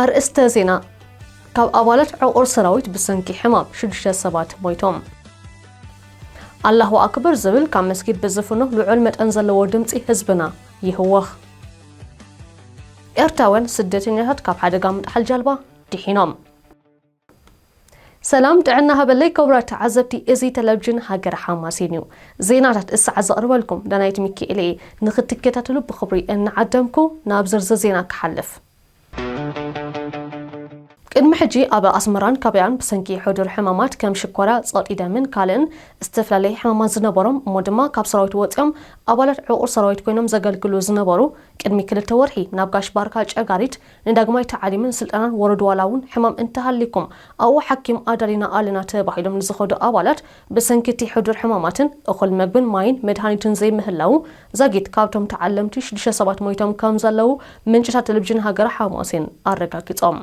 ኣርእስተ ዜና፣ ካብ ኣባላት ዕቑር ሰራዊት ብሰንኪ ሕማም ሽዱሽተ ሰባት ሞይቶም። ኣላሁ ኣክበር ዝብል ካብ መስጊድ ብዝፍኖ ልዑል መጠን ዘለዎ ድምጺ ህዝብና ይህወኽ። ኤርትራውያን ስደተኛታት ካብ ሓደጋ ምጥሓል ጃልባ ድሒኖም። ሰላም ጥዕና ሃበለይ ክቡራት ተዓዘብቲ እዚ ተለቭጅን ሃገረ ሓማሴን እዩ ዜናታት እሰዓ ዘቕርበልኩም ዳናይት ሚኪኤል እየ ንኽትከታተሉ ብኽብሪ እናዓደምኩ ናብ ዝርዝር ዜና ክሓልፍ ቅድሚ ሕጂ ኣብ ኣስመራን ከባቢኣን ብሰንኪ ሕዱር ሕማማት ከም ሽኮርያ፣ ጸቕጢ ደምን ካልእን ዝተፈላለየ ሕማማት ዝነበሮም እሞ ድማ ካብ ሰራዊት ወጺኦም ኣባላት ዕቑር ሰራዊት ኮይኖም ዘገልግሉ ዝነበሩ ቅድሚ ክልተ ወርሒ ናብ ጋሽ ባርካ ጨጋሪት ንዳግማይ ታዕሊምን ስልጠናን ወረዱ ዋላ እውን ሕማም እንተሃልይኩም ኣብኡ ሓኪም ኣዳሊና ኣለና ተባሂሎም ንዝኸዱ ኣባላት ብሰንኪ እቲ ሕዱር ሕማማትን እኹል መግብን ማይን መድሃኒትን ዘይምህላዉ ዛጊት ካብቶም ተዓለምቲ ሽዱሽተ ሰባት ሞይቶም ከምዘለዉ ምንጭታት ቴሌቪዥን ሃገረ ሓማሴን ኣረጋጊጾም።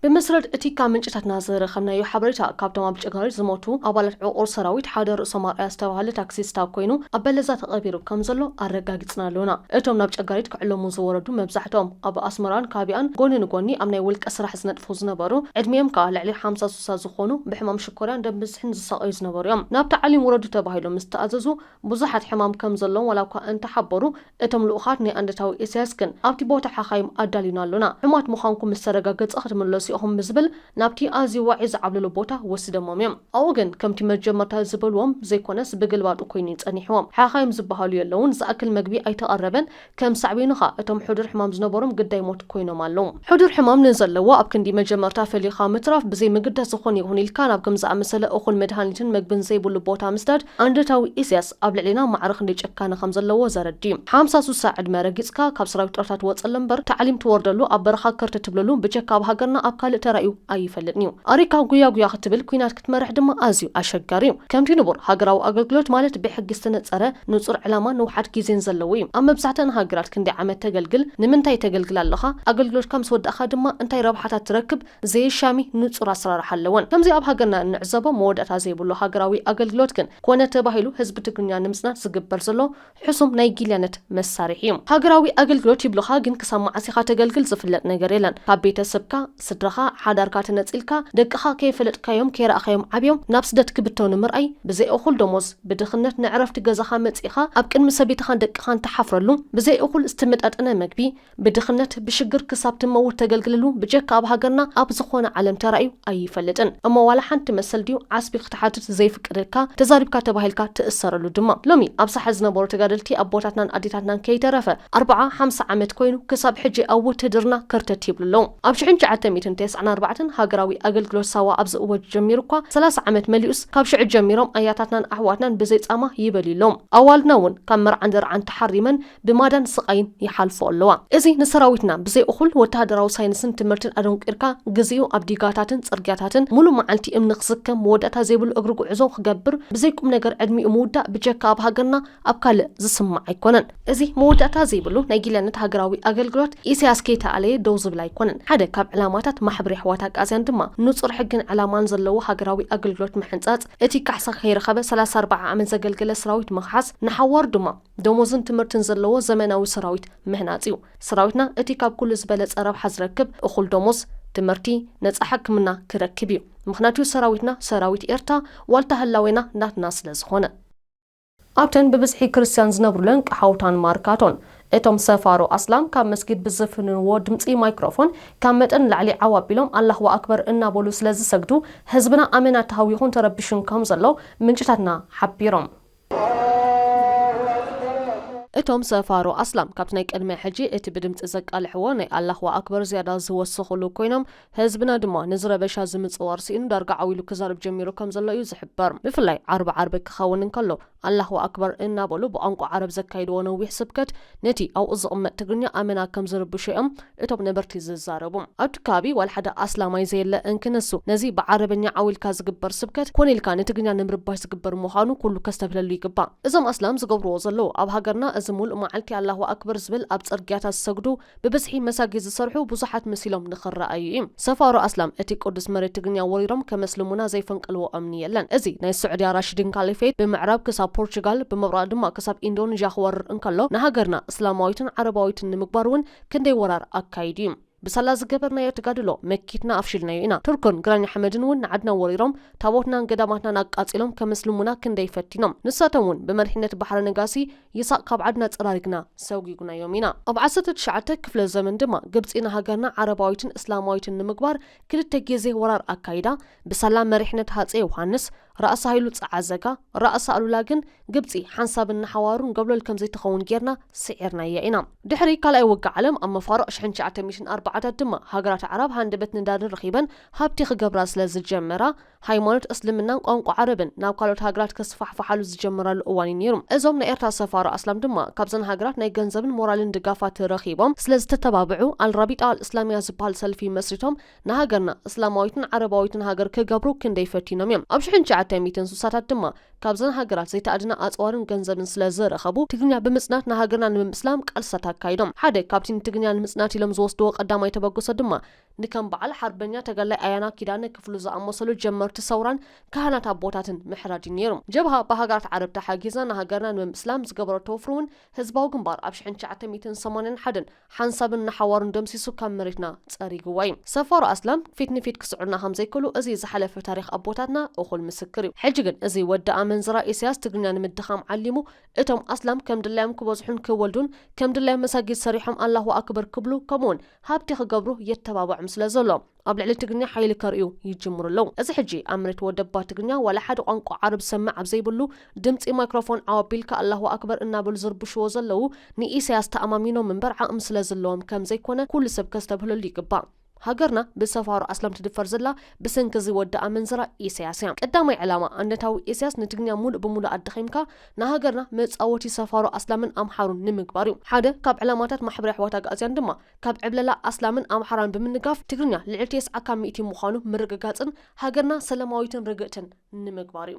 ብመሰረት እቲ ካብ ምንጭታትና ዝረኸብናዮ ሓበሬታ፣ ካብቶም ኣብ ጭጋሪት ዝሞቱ ኣባላት ዕቑር ሰራዊት ሓደ ርእሶም ኣርኣያ ዝተባህለ ታክሲስታ ኮይኑ ኣብ በለዛ ተቐቢሩ ከምዘሎ ኣረጋጊጽና ኣሎና። እቶም ናብ ጨጋሪት ክዕለሙ ዝወረዱ መብዛሕትኦም ኣብ ኣስመራን ካቢኣን ጎኒ ንጎኒ ኣብ ናይ ውልቀ ስራሕ ዝነጥፉ ዝነበሩ ዕድሚኦም ከኣ ልዕሊ ሓምሳ ስሳ ዝኾኑ ብሕማም ኮርያን ደም ብዝሕን ዝሳቐዩ ዝነበሩ እዮም። ናብ ታዕሊም ውረዱ ተባሂሎም ምስ ተኣዘዙ ብዙሓት ሕማም ከም ዘለዎም ዋላ እኳ እንተ ሓበሩ፣ እቶም ልኡኻት ናይ ኣንደታዊ ኢሳያስ ግን ኣብቲ ቦታ ሓኻይም ኣዳሊዩና ኣሎና፣ ሕሙማት ምዃንኩም ምስ ተረጋገጸ ክትምለሱ ኢኹም ብዝብል ናብቲ ኣዝዩ ዋዒ ዝዓብለሎ ቦታ ወሲደሞም እዮም። ኣብኡ ግን ከምቲ መጀመርታ ዝበሉዎም ዘይኮነስ ብግልባጡ ኰይኑ እዩ ጸኒሑዎም። ሓኻይም ዝበሃሉ የለዉን፣ ዝኣክል መግቢ ኣይተቐረበን፣ ከም ሳዕቤኑ ከኣ እቶም ሕዱር ሕማም ዝነበሮም ግዳይ ሞት ኮይኖም ኣለዉ። ሕዱር ሕማም ንዘለዎ ኣብ ክንዲ መጀመርታ ፈሊኻ ምትራፍ ብዘይምግዳስ ዝኾነ ይኹን ኢልካ ናብ ከም ዝኣመሰለ እኹል መድሃኒትን መግብን ዘይብሉ ቦታ ምስዳድ ኣንደታዊ ኢሰያስ ኣብ ልዕሌና ማዕረ ክንደይ ጭካነ ከም ዘለዎ ዘረድእ እዩ። ሓምሳ ሱሳ ዕድመ ረጊጽካ ካብ ሰራዊት ጡረታ ትወጸሉ እምበር ታዕሊም ትወርደሉ ኣብ በረኻ ክርት ትብለሉ ብጀካ ኣብ ሃገርና ኣብ ካልእ ተራእዩ ኣይፈልጥን እዩ። ኣሪካ ጉያ ጉያ ክትብል ኩናት ክትመርሕ ድማ ኣዝዩ ኣሸጋሪ እዩ። ከምቲ ንቡር፣ ሃገራዊ ኣገልግሎት ማለት ብሕጊ ዝተነጸረ ንጹር ዕላማን ንውሓት ግዜን ዘለዎ እዩ። ኣብ መብዛሕትኣን ሃገራት ክንደይ ዓመት ተገልግል፣ ንምንታይ ተገልግል ኣለኻ፣ ኣገልግሎትካ ምስ ወዳእካ ድማ እንታይ ረብሓታት ትረክብ ዘየሻሚ ንጹር ኣሰራርሓ ኣለወን። ከምዚ ኣብ ሃገርና እንዕዘቦ መወዳእታ ዘይብሉ ሃገራዊ ኣገልግሎት ግን ኮነ ተባሂሉ ህዝቢ ትግርኛ ንምጽናት ዝግበር ዘሎ ሕሱም ናይ ጊልያነት መሳርሒ እዩ። ሃገራዊ ኣገልግሎት ይብሉኻ ግን ክሳብ መዓስ ኢኻ ተገልግል ዝፍለጥ ነገር የለን ካብ ቤተ ስብካ፣ ስድራኻ፣ ሓዳርካ ተነጺልካ ደቅኻ ከይፈለጥካዮም ከይረኣኻዮም ዓብዮም ናብ ስደት ክብተኑ ምርኣይ ብዘይ እኹል ደሞዝ ብድኽነት ንዕረፍቲ ገዛኻ መጺእኻ ኣብ ቅድሚ ሰበይትኻን ደቅኻን ትሓፍረሉ ብዘይ እኹል ዝተመጣጠነ መግቢ ብድኽነት ብሽግር ክሳብ ትመውት ተገልግልሉ ብጀካ ኣብ ሃገርና ኣብ ዝኾነ ዓለም ተራእዩ ኣይፈልጥን እሞ ዋላ ሓንቲ መሰል ድዩ ዓስቢ ክትሓትት ዘይፍቀደልካ ተዛሪብካ ተባሂልካ ትእሰረሉ ድማ ሎሚ ኣብ ሳሕል ዝነበሩ ተጋደልቲ ኣቦታትናን ኣዴታትናን ከይተረፈ ኣርብዓ ሓምሳ ዓመት ኮይኑ ክሳብ ሕጂ ኣብ ውትህድርና ከርተት ይብሉ ኣለዉ ኣብ ሽሕን ትሽዓተ ሚእትን ተስዓን ኣርባዕተን ሃገራዊ ኣገልግሎት ሳዋ ኣብ ዝእወጅ ጀሚሩ እኳ ሰላሳ ዓመት መሊኡስ ካብ ሽዑ ጀሚሮም ኣያታትናን ኣሕዋትናን ብዘይ ጻማ ይበልዩ ኣለዉ ኣዋልድና እውን ካብ መርዓን ደርዓን ተሓሪመን ብማዳን ስቓይን ይሓልፎ ኣለዋ። እዚ ንሰራዊትና ብዘይ እኹል ወተሃደራዊ ሳይንስን ትምህርትን ኣደንቊርካ ግዜኡ ኣብ ዲጋታትን ጽርግያታትን ሙሉእ መዓልቲ እምኒ ክስከም መወዳእታ ዘይብሉ እግሪ ጉዕዞ ክገብር ብዘይ ቁምነገር ዕድሚኡ ምውዳእ ብጀካ ኣብ ሃገርና ኣብ ካልእ ዝስማዕ ኣይኮነን። እዚ መወዳእታ ዘይብሉ ናይ ጊላነት ሃገራዊ ኣገልግሎት ኢሳያስ ከይተኣለየ ደው ዝብል ኣይኮነን። ሓደ ካብ ዕላማታት ማሕበር የሕዋት ኣግኣዝያን ድማ ንጹር ሕግን ዕላማን ዘለዎ ሃገራዊ ኣገልግሎት ምሕንጻጽ፣ እቲ ካሕሳ ከይረኸበ ሰላሳ ኣርብዓ ዓመት ዘገልገለ ሰራዊት ምኽሓስ፣ ንሓዋሩ ድማ፣ ደሞዝን ትምህርትን ዘለዎ ዘመናዊ ሰራዊት ምህናጽ እዩ። ሰራዊትና እቲ ካብ ኩሉ ዝበለጸ ረብሓ ዝረክብ እኹል ደሞዝ፣ ትምህርቲ፣ ነጻ ሕክምና ክረክብ እዩ። ምኽንያቱ ሰራዊትና ሰራዊት ኤርትራ ዋልታ ህላዌና ናትና ስለ ዝኾነ። ኣብተን ብብዝሒ ክርስትያን ዝነብሩለን ቀሓውታን ማርካቶን፣ እቶም ሰፋሮ ኣስላም ካብ መስጊድ ብዝፍንንዎ ድምጺ ማይክሮፎን ካብ መጠን ንላዕሊ ዓው ኣቢሎም ኣላሁ ኣክበር እናበሉ ስለ ዝሰግዱ፣ ህዝብና ኣመና ተሃዊኹን ተረቢሹን ከም ዘሎ ምንጭታትና ሓቢሮም። እቶም ሰፋሮ ኣስላም ካብቲ ናይ ቅድሚ ሕጂ እቲ ብድምጺ ዘቃልሕዎ ናይ ኣላህ ወኣክበር ዝያዳ ዝወሰኹሉ ኮይኖም፣ ህዝብና ድማ ነዚ ረበሻ እዚ ምጽዋር ስኢኑ ዳርጋ ዓው ኢሉ ክዛረብ ጀሚሩ ከም ዘሎ እዩ ዝሕበር። ብፍላይ ዓርቢ ዓርቢ ክኸውን እንከሎ ኣላህ ወኣክበር እናበሉ ብቋንቋ ዓረብ ዘካይድዎ ነዊሕ ስብከት ነቲ ኣብኡ ዝቕመጥ ትግርኛ ኣመና ከም ዝርብሾ እዮም እቶም ነበርቲ ዝዛረቡ። ኣብቲ ከባቢ ዋላ ሓደ ኣስላማይ ዘየለ እንክነሱ፣ ነዚ ብዓረበኛ ዓው ኢልካ ዝግበር ስብከት፣ ኮነ ኢልካ ንትግርኛ ንምርባሽ ዝግበር ምዃኑ ኩሉ ከስተብህለሉ ይግባእ። እዞም ኣስላም ዝገብርዎ ዘለዉ፣ ኣብ ሃገርና እዚ ምሉእ መዓልቲ ኣላሁ ኣክበር ዝብል ኣብ ጽርግያታት ዝሰግዱ፣ ብብዝሒ መሳጊድ ዝሰርሑ ብዙሓት መሲሎም ንኽረኣዩ ኢዩ። ሰፋሮ ኣስላም እቲ ቅዱስ መሬት ትግርኛ ወሪሮም ከመስልሙና ዘይፈንቅልዎ እምኒ የለን። እዚ ናይ ስዑድያ ራሺዲን ካሊፌት ብምዕራብ ክሳብ ፖርቹጋል፣ ብምብራቕ ድማ ክሳብ ኢንዶንዥያ ክወርር እንከሎ፣ ንሃገርና እስላማዊትን ዓረባዊትን ንምግባር እውን ክንደይ ወራር ኣካይዱ እዩ። ብሳላ ዝገበርናዮ ተጋድሎ መኪትና ኣፍሺልናዮ ኢና። ቱርክን ግራኝ ኣሕመድን እውን ንዓድና ወሪሮም ታቦትናን ገዳማትናን ኣቃጺሎም ከምስልሙና ክንደይ ፈቲኖም። ንሳቶም እውን ብመሪሕነት ባሕረ ነጋሲ ይሳቕ ካብ ዓድና ጸራሪግና ሰጒጉናዮም ኢና። ኣብ ዓሰርተ ትሽዓተ ክፍለ ዘመን ድማ ግብጺ ንሃገርና ዓረባዊትን እስላማዊትን ንምግባር ክልተ ጊዜ ወራር ኣካይዳ። ብሳላ መሪሕነት ሃጼ ዮውሃንስ፣ ራእሲ ሃይሉ ጸዓዘጋ፣ ራእሲ ኣሉላ ግን ግብጺ ሓንሳብን ንሓዋሩን ጎብለል ከም ዘይትኸውን ጌርና ስዒርናያ ኢና። ድሕሪ ካልኣይ ውግእ ዓለም ኣብ መፋርቕ ሽሕን ትሽዓተ ሚእትን ኣርባዓታት ድማ ሃገራት ኣዕራብ ሃንደበት ነዳድን ረኺበን ሃብቲ ክገብራ ስለ ዝጀመራ ሃይማኖት እስልምናን ቋንቋ ዓረብን ናብ ካልኦት ሃገራት ክስፋሕፋሓሉ ዝጀመራሉ እዋን እዩ ነይሩ። እዞም ናይ ኤርትራ ሰፋሮ ኣስላም ድማ ካብዘን ሃገራት ናይ ገንዘብን ሞራልን ድጋፋት ረኺቦም ስለ ዝተተባብዑ ኣልራቢጣ ኣልእስላሚያ ዝበሃል ሰልፊ መስሪቶም ንሃገርና እስላማዊትን ዓረባዊትን ሃገር ክገብሩ ክንደይ ፈቲኖም እዮም። ኣብ ሽሕን ትሽዓተ ሚእትን ስሳታት ድማ ካብዘን ሃገራት ዘይተኣድነ ኣጽዋርን ገንዘብን ስለ ዝረኸቡ ትግርኛ ብምጽናት ንሃገርና ንምምስላም ቃልስታት ኣካይዶም። ሓደ ካብቲ ንትግርኛ ንምጽናት ኢሎም ዝወስድዎ ቀዳማይ ተበግሶ ድማ ንከም በዓል ሓርበኛ ተጋዳላይ ኣያና ኪዳነ ክፍሉ ዝኣመሰሉ ጀመርቲ ሰውራን ካህናት ኣቦታትን ምሕራድ እዩ ነይሩ። ጀብሃ ብሃገራት ዓረብ ተሓጊዛ ንሃገርና ንምምስላም ዝገበረቶ ወፍሪ እውን ህዝባዊ ግንባር ኣብ ሽሕን ትሽዓተ ሚእትን ሰማንያን ሓደን ሓንሳብን ንሓዋሩን ደምሲሱ ካብ መሬትና ጸሪግዋ እዩ። ሰፋሮ ኣስላም ፊት ንፊት ክስዕሩና ከም ዘይክእሉ እዚ ዝሓለፈ ታሪኽ ኣቦታትና እኹል ምስክር እዩ። ሕጂ ግን እዚ ወዲ ኣመንዝራ ኢሰያስ ትግርኛ ንምድኻም ዓሊሙ እቶም ኣስላም ከም ድላዮም ክበዝሑን ክወልዱን ከም ድላዮም መሳጊድ ሰሪሖም ኣላሁ ኣክበር ክብሉ ከምኡውን ሃብቲ ክገብሩ የተባብዖም ስለ ዘሎ ኣብ ልዕሊ ትግርኛ ሓይሊ ከርእዩ ይጅምሩ ኣለዉ። እዚ ሕጂ ኣብ መሬት ወደባ ትግርኛ ዋላ ሓደ ቋንቋ ዓረብ ዝሰምዕ ኣብ ዘይብሉ ድምጺ ማይክሮፎን ዓው ኣቢልካ ኣላሁ ኣክበር እናበሉ ዝርብሽዎ ዘለዉ ንኢሰያስ ተኣማሚኖም እምበር ዓቕሚ ስለ ዝለዎም ከም ዘይኮነ ኩሉ ሰብ ከስተብህለሉ ይግባእ። ሃገርና ብሰፋሮ ኣስላም ትድፈር ዘላ ብሰንኪ እዚ ወዲ ኣመንዝራ ኢሰያስ እያ። ቀዳማይ ዕላማ ኣንነታዊ ኢሰያስ ንትግርኛ ሙሉእ ብሙሉእ ኣዳኺምካ ንሃገርና መጻወቲ ሰፋሮ ኣስላምን ኣምሓሩን ንምግባር እዩ። ሓደ ካብ ዕላማታት ማሕበር የሕዋት ኣግኣዝያን ድማ ካብ ዕብለላ ኣስላምን ኣምሓራን ብምንጋፍ ትግርኛ ልዕሊ ቴስዓ ካብ ሚእቲ ምዃኑ ምርግጋጽን ሃገርና ሰለማዊትን ርግእትን ንምግባር እዩ።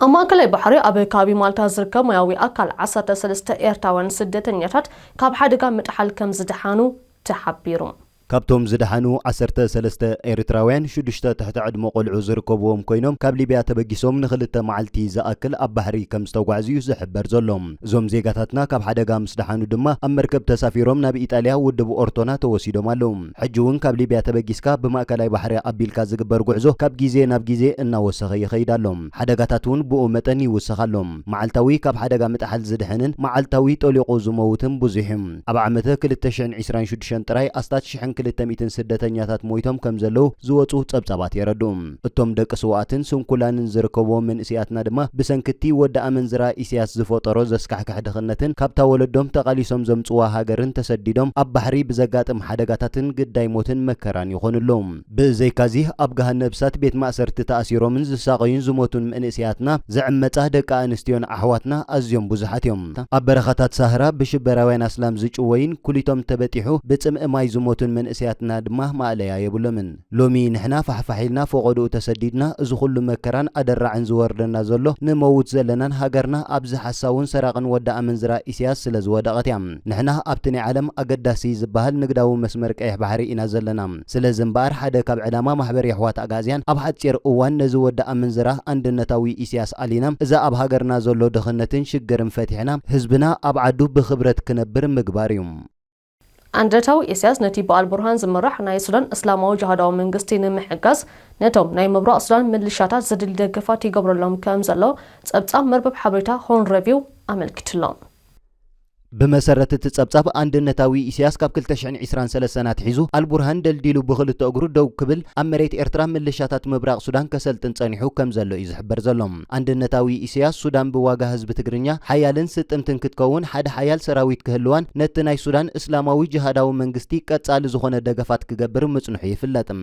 ኣብ ማእከላይ ባሕሪ ኣብ ከባቢ ማልታ ዝርከብ ማያዊ ኣካል ዓሰርተ ሰለስተ ኤርትራውያን ስደተኛታት ካብ ሓደጋ ምጥሓል ከምዝደሓኑ ተሓቢሩ። ካብቶም ዝደሓኑ ዓሰርተ ሰለስተ ኤርትራውያን፣ ሽዱሽተ ትሕቲ ዕድመ ቆልዑ ዝርከብዎም ኮይኖም፣ ካብ ሊብያ ተበጊሶም ንኽልተ መዓልቲ ዝኣክል ኣብ ባሕሪ ከምዝተጓዕዙ'ዩ ዝሕበር ዘሎ። እዞም ዜጋታትና ካብ ሓደጋ ምስ ደሓኑ ድማ ኣብ መርከብ ተሳፊሮም ናብ ኢጣልያ ውድብ ኦርቶና ተወሲዶም ኣለዉ። ሕጂ'ውን ካብ ሊብያ ተበጊስካ ብማእከላይ ባሕሪ ኣቢልካ ዝግበር ጉዕዞ ካብ ግዜ ናብ ግዜ እናወሰኸ ይኸይድ ኣሎ። ሓደጋታት'ውን ብኡ መጠን ይውስኽ ኣሎ። መዓልታዊ ካብ ሓደጋ ምጥሓል ዝድሕንን መዓልታዊ ጠሊቑ ዝመውትን ብዙሕ'ዩ። ኣብ ዓመተ ክልተ ሽሕን ዕስራን ሽዱሽተን ጥራይ ኣስታት ሽሕን ክልተ ሚእትን ስደተኛታት ሞይቶም ከም ዘለዉ ዝወጹ ጸብጻባት የረድኡ። እቶም ደቂ ስውኣትን ስንኩላንን ዝርከብዎም መንእሲያትና ድማ ብሰንኪ'ቲ ወዲ ኣመንዝራ ኢሲያስ ዝፈጠሮ ዘስካሕክሕ ድኽነትን ካብታ ወለዶም ተቓሊሶም ዘምጽዋ ሃገርን ተሰዲዶም ኣብ ባሕሪ ብዘጋጥም ሓደጋታትን ግዳይ ሞትን መከራን ይኾኑ ኣለዉ። ብዘይካ'ዚ ኣብ ገሃነብሳት ቤት ማእሰርቲ ተኣሲሮምን ዝሳቐዩን ዝሞቱን መንእሰያትና ዝዕመጻ ደቂ ኣንስትዮን ኣሕዋትና ኣዝዮም ብዙሓት እዮም። ኣብ በረኻታት ሳህራ ብሽበራውያን ኣስላም ዝጭወዩን ኩሊቶም ተበጢሑ ብጽምኢ ማይ ዝሞቱን መንእሰያትና ድማ ማእለያ የብሎምን። ሎሚ ንሕና ፋሕፋሕ ኢልና ፎቖድኡ ተሰዲድና እዚ ኩሉ መከራን ኣደራዕን ዝወርደና ዘሎ ንመውት ዘለናን ሃገርና ኣብዚ ሓሳውን ሰራቕን ወዲ ኣመንዝራ ኢሰያስ ስለ ዝወደቐት እያ። ንሕና ኣብቲ ናይ ዓለም ኣገዳሲ ዝበሃል ንግዳዊ መስመር ቀይሕ ባሕሪ ኢና ዘለና። ስለዚ እምበኣር ሓደ ካብ ዕላማ ማሕበር የሕዋት ኣግኣዝያን ኣብ ሓጺር እዋን ነዚ ወዲ ኣመንዝራ ኣንድነታዊ ኢስያስ ኣሊና እዚ ኣብ ሃገርና ዘሎ ድኽነትን ሽግርን ፈቲሕና ህዝብና ኣብ ዓዱ ብኽብረት ክነብር ምግባር እዩ። ኣንድነታዊ ኢስያስ ነቲ ብኣልቡርሃን ዝምራሕ ናይ ሱዳን እስላማዊ ጅሃዳዊ መንግስቲ ንምሕጋዝ ነቶም ናይ ምብራቕ ሱዳን ምልሻታት ዘድሊ ደገፋት ይገብረሎም ከምዘሎ ጸብጻብ መርበብ ሓበሬታ ሆርን ረቪው ኣመልኪቱ'ሎ። ብመሰረት እቲ ጸብጻብ፣ ኣንድነታዊ ኢሲያስ ካብ ክልተ ሽሕን ዒስራን ሰለስተን ኣትሒዙ ኣልቡርሃን ደልዲሉ ብኽልተ እግሩ ደው ክብል ኣብ መሬት ኤርትራ ምልሻታት ምብራቕ ሱዳን ከሰልጥን ጸኒሑ ከም ዘሎ እዩ ዝሕበር ዘሎ። ኣንድነታዊ ኢሲያስ፣ ሱዳን ብዋጋ ህዝቢ ትግርኛ ሓያልን ስጥምትን ክትከውን ሓደ ሓያል ሰራዊት ክህልዋን ነቲ ናይ ሱዳን እስላማዊ ጅሃዳዊ መንግስቲ ቀጻሊ ዝኾነ ደገፋት ክገብር ምጽንሑ ይፍለጥ።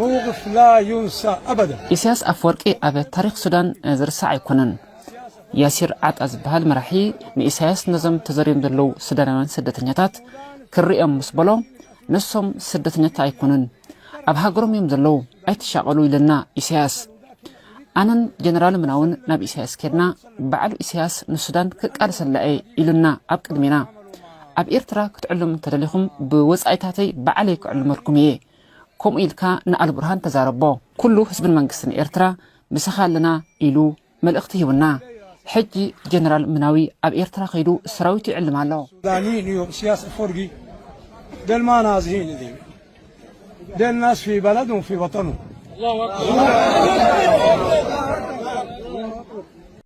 መውቕፍ ላ ዩንሳ ኣበደ። ኢሳያስ ኣፈወርቂ ኣብ ታሪኽ ሱዳን ዝርሳዕ ኣይኮነን። ያሲር ዓጣ ዝበሃል መራሒ ንኢሳያስ ነዞም ተዘርዮም ዘለዉ ሱዳናውያን ስደተኛታት ክርእዮም ምስ በሎ ንሶም ስደተኛታት ኣይኮኑን ኣብ ሃገሮም እዮም ዘለዉ ኣይትሻቐሉ ኢለና ኢሳያስ። ኣነን ጀነራል ምናውን ናብ ኢሳያስ ኬድና ባዕሉ ኢሳያስ ንሱዳን ክቃልሰላ እየ ኢሉና ኣብ ቅድሜና ኣብ ኤርትራ ክትዕሉም እንተደሊኹም ብወጻኢታተይ ባዕለይ ክዕልመልኩም እየ ከምኡ ኢልካ ንኣልቡርሃን ተዛረቦ ኩሉ ህዝብን መንግስትን ኤርትራ ምሳኻ ኣለና ኢሉ መልእኽቲ ሂቡና ሕጂ ጀነራል ምናዊ ኣብ ኤርትራ ከይዱ ሰራዊቱ ይዕልም ኣሎ። ዳኒ ንዩ እስያስ ኣፎርጊ ደልማ ናዝሂ ንዚ ደል ናስ ፊ በለዱ ፊ ወጠኑ።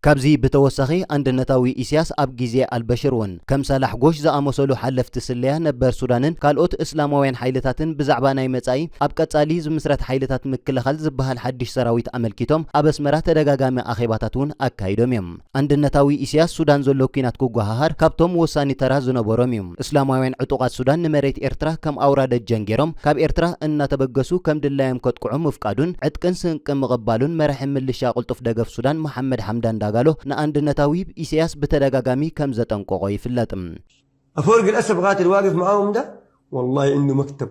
ካብዚ ብተወሳኺ ኣንድነታዊ ኢሲያስ ኣብ ግዜ ኣልበሽር ውን ከም ሳላሕ ጎሽ ዝኣመሰሉ ሓለፍቲ ስለያ ነበር ሱዳንን ካልኦት እስላማውያን ሓይልታትን ብዛዕባ ናይ መጻኢ ኣብ ቀጻሊ ዝምስረት ሓይልታት ምክልኻል ዝበሃል ሓድሽ ሰራዊት ኣመልኪቶም ኣብ ኣስመራ ተደጋጋሚ ኣኼባታት ውን ኣካይዶም እዮም። ኣንድነታዊ ኢሲያስ ሱዳን ዘሎ ኲናት ክጎሃሃር ካብቶም ወሳኒ ተራ ዝነበሮም እዩ። እስላማውያን ዕጡቓት ሱዳን ንመሬት ኤርትራ ከም ኣውራ ደጀን ጌሮም ካብ ኤርትራ እናተበገሱ ከም ድላዮም ከጥቅዑ ምፍቃዱን ዕጥቅን ስንቅን ምቕባሉን መራሒ ምልሻ ቅልጡፍ ደገፍ ሱዳን መሓመድ ሓምዳን ዳጋሎ ንኣንድነታዊ ኢሰያስ ብተደጋጋሚ ከም ዘጠንቆቖ ይፍለጥ። ኣፈወርቂ ለእሰፍ ቃትል ዋቅፍ መዓሁም ዳ ወላሂ እንዱ መክተብ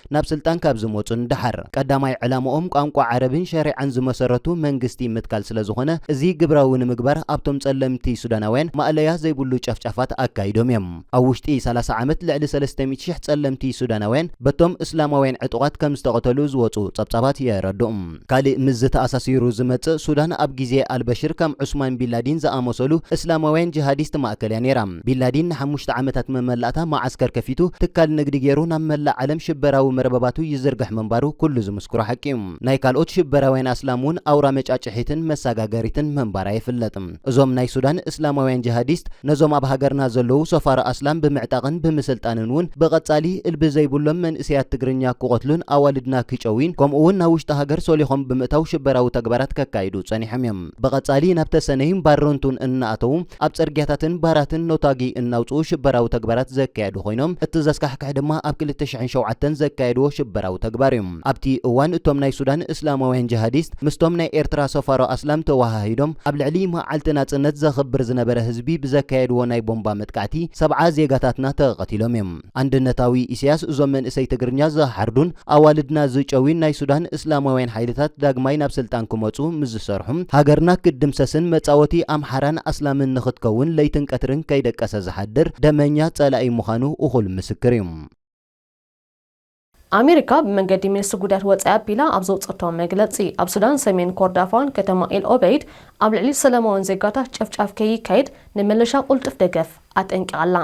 ናብ ስልጣን ካብ ዝመጹ ንደሓር፣ ቀዳማይ ዕላምኦም ቋንቋ ዓረብን ሸሪዓን ዝመሰረቱ መንግስቲ ምትካል ስለዝኾነ፣ እዚ ግብራዊ ንምግባር ኣብቶም ጸለምቲ ሱዳናውያን ማእለያ ዘይብሉ ጨፍጫፋት ኣካይዶም እዮም። ኣብ ውሽጢ ሰላሳ ዓመት ልዕሊ ሰለስተ ሚእቲ ሽሕ ጸለምቲ ሱዳናውያን በቶም እስላማውያን ዕጡቓት ከምዝተቐተሉ ዝወጹ ጸብጻባት የረድኡ። ካሊእ ምስዚ ተኣሳሲሩ ዝመፅእ ሱዳን ኣብ ግዜ ኣልበሽር ከም ዑስማን ቢንላዲን ዝኣመሰሉ እስላማውያን ጂሃዲስት ማእከል እያ ነይራ። ቢንላዲን ንሓሙሽተ ዓመታት መመላእታ መዓስከር ከፊቱ ትካል ንግዲ ገይሩ ናብ መላእ ዓለም ሽበራዊ መርበባቱ ይዝርግሕ ምንባሩ ኩሉ ዝምስክሮ ሓቂ እዩ። ናይ ካልኦት ሽበራውያን ኣስላም እውን ኣውራ መጫጭሒትን መሳጋገሪትን ምንባራ ይፍለጥ። እዞም ናይ ሱዳን እስላማውያን ጅሃዲስት ነዞም ኣብ ሃገርና ዘለዉ ሰፋሮ ኣስላም ብምዕጣቕን ብምስልጣንን ውን ብቐጻሊ እልቢ ዘይብሎም መንእሰያት ትግርኛ ክቐትሉን ኣዋልድና ክጨውዩን ከምኡ ውን ናብ ውሽጢ ሃገር ሰሊኾም ብምእታው ሽበራዊ ተግባራት ከካይዱ ጸኒሖም እዮም። ብቐጻሊ ናብ ተሰነይን ባረንቱን እናኣተዉ ኣብ ጽርግያታትን ባራትን ነታጒ እናውጽኡ ሽበራዊ ተግባራት ዘካየዱ ኮይኖም እቲ ዘስካሕክሕ ድማ ኣብ ክልተ ሽሕን ሸውዓተን ዘካየድዎ ሽበራዊ ተግባር እዩ። ኣብቲ እዋን እቶም ናይ ሱዳን እስላማውያን ጅሃዲስት መዓልታት ምስቶም ናይ ኤርትራ ሰፋሮ ኣስላም ተወሃሂዶም ኣብ ልዕሊ መዓልቲ ናጽነት ዘኽብር ዝነበረ ህዝቢ ብዘካየድዎ ናይ ቦምባ መጥቃዕቲ ሰብዓ ዜጋታትና ተቐቲሎም እዮም። ኣንድነታዊ ኢሰያስ እዞም መንእሰይ ትግርኛ ዝሓርዱን ኣዋልድና ዝጨውዩን ናይ ሱዳን እስላማውያን ሓይልታት ዳግማይ ናብ ስልጣን ክመጹ ምስ ዝሰርሑ ሃገርና ክትድምሰስን መጻወቲ ኣምሓራን ኣስላምን ንኽትከውን ለይትን ቀትርን ከይደቀሰ ዝሓድር ደመኛ ጸላኢ ምዃኑ እኹል ምስክር እዩ። ኣሜሪካ ብመንገዲ ሚኒስትሪ ጉዳያት ወጻኢ ኣቢላ ኣብ ዘውጸቶ መግለጺ፣ ኣብ ሱዳን ሰሜን ኮርዳፋን ከተማ ኤል ኦበይድ ኣብ ልዕሊ ሰለማውያን ዜጋታት ጨፍጫፍ ከይካየድ ንምልሻ ቁልጡፍ ደገፍ ኣጠንቂቓ ኣላ።